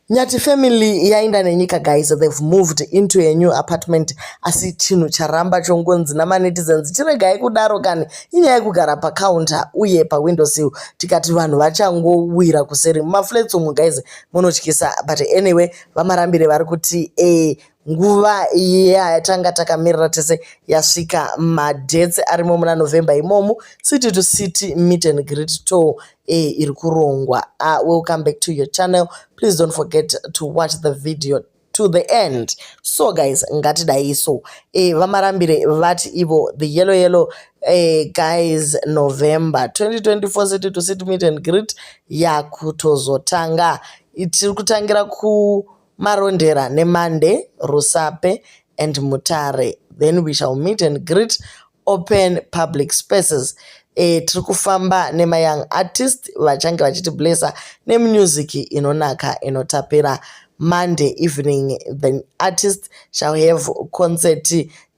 Nyati family yaenda nenyika guys they've moved into a new apartment asi chinhu charamba chongonzi namanetizens chiregai kudaro kani inyaya yekugara pacounter uye pawindo sill tikati vanhu vachangowira kuseri mumaflats umu guys munotyisa but anyway vamarambire vari kuti e eh, nguva iya yatanga takamirira tese yasvika madhetse arimo muna november imomu city to city meet and great tour e iri kurongwa uh, welcome back to your channel please don't forget to watch the video to the end so guys ngatidai so e eh, vamarambire vati ivo the yellow yellow e guys november 2024 city to city meet and greet yakutozotanga tiri kutangira ku Marondera neMande, Rusape and Mutare. Then we shall meet and greet open public spaces. E, tiri kufamba nemayoung artist vachange vachiti blessa nemusic inonaka inotapira Monday evening the artist shall have concert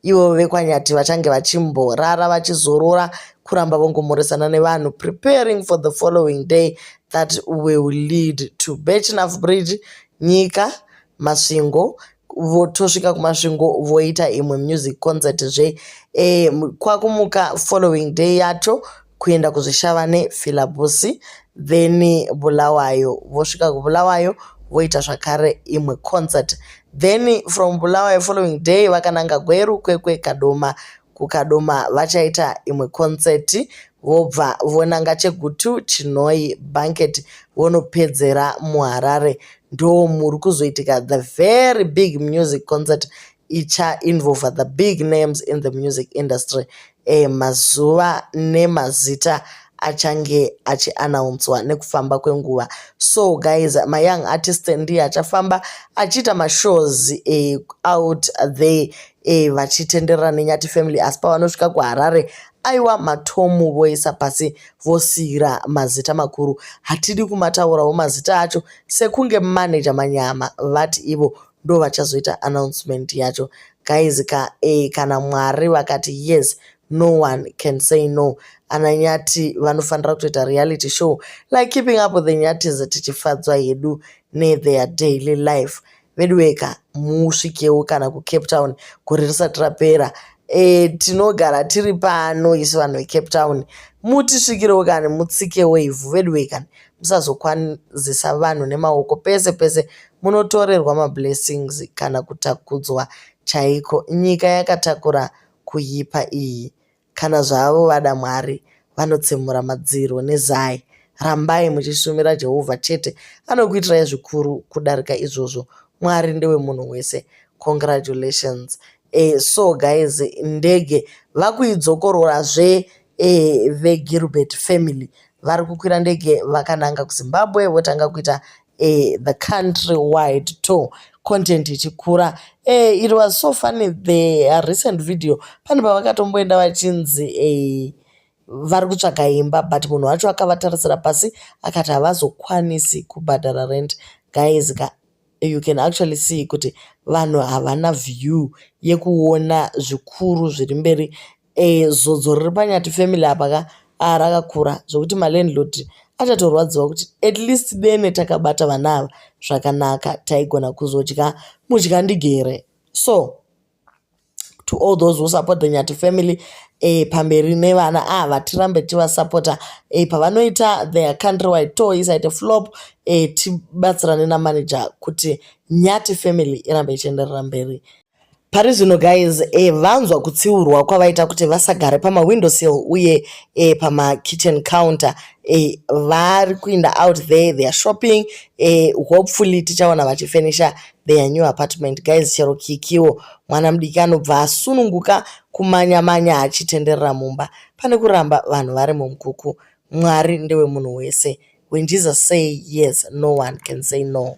ivo vekwanyati vachange vachimborara vachizorora kuramba vongomhoresana nevanhu preparing for the following day that will lead to bachnaf bridge nyika masvingo votosvika kumasvingo voita imwe music concert zve e, kwakumuka following day yacho kuenda kuzvishavane filabusi then bulawayo vosvika kubulawayo voita zvakare imwe concert then from bulawayo following day vakananga gweru kwekwe kadoma kukadoma vachaita imwe concert vobva vonanga chegutu chinoi banket vonopedzera muharare ndo muri kuzoitika the very big music concert icha involver the big names in the music industry eh, mazuva nemazita achange achianaunswa nekufamba kwenguva so guys mayoung artist ndiye achafamba achiita mashows eh, out there eh, vachitenderera nenyati family asi pavanosvika kuharare aiwa matomu voisa pasi vosiira mazita makuru hatidi kumataurawo mazita acho sekunge manaja manyama vati ivo ndo vachazoita announcement yacho guys ka eh, kana mwari vakati yes no one can say no ana nyati vanofanira kutoita reality show like keeping up with the nyatis tichifadzwa hedu netheir daily life veduweka musvikewo kana kucape town gore risati rapera e, tinogara tiri pano isu vanhu vecape town mutisvikirewo kani mutsikewo ivhu veduwekani musazokwanzisa vanhu nemaoko pese pese munotorerwa mablessings kana kutakudzwa chaiko nyika yakatakura kuipa iyi kana zvavo vada mwari vanotsemura madziro nezai rambai muchishumira jehovha chete anokuitirai zvikuru kudarika izvozvo mwari ndewemunhu wese congratulations e, so guys ndege vakuidzokororazve veGilbert family vari kukwira ndege vakananga kuZimbabwe votanga kuita the country wide tour content ichikura it was so funny the recent video pane pavakatomboenda vachinzi vari kutsvaga imba but munhu wacho akavatarisira pasi akati havazokwanisi kubhadhara rent guys ka you can actually see kuti vanhu havana view yekuona zvikuru zviri mberi Eh, zodzo riri panyati family apa ka ah, rakakura zvekuti malandlord achatorwadziwa kuti at least dene takabata vana ava zvakanaka taigona kuzodya mudya ndigere so to all those who support the nyati family e, pamberi nevana ava ah, tirambe tivasapota e, eh, pavanoita their country wide tour isaite flop e, tibatsirane namanager kuti nyati family irambe ichienderera mberi Pari zvino guys eh, vanzwa kutsiurwa kwavaita kuti vasagare pama window sill uye eh, pama kitchen counter eh, vari kuinda out there they are shopping eh, hopefully tichaona vachifenisha their new apartment guys chero kikiwo mwana mudiki anobva asununguka kumanya manya achitenderera mumba pane kuramba vanhu vari mumukuku mwari ndewe munhu wese when jesus say yes no one can say no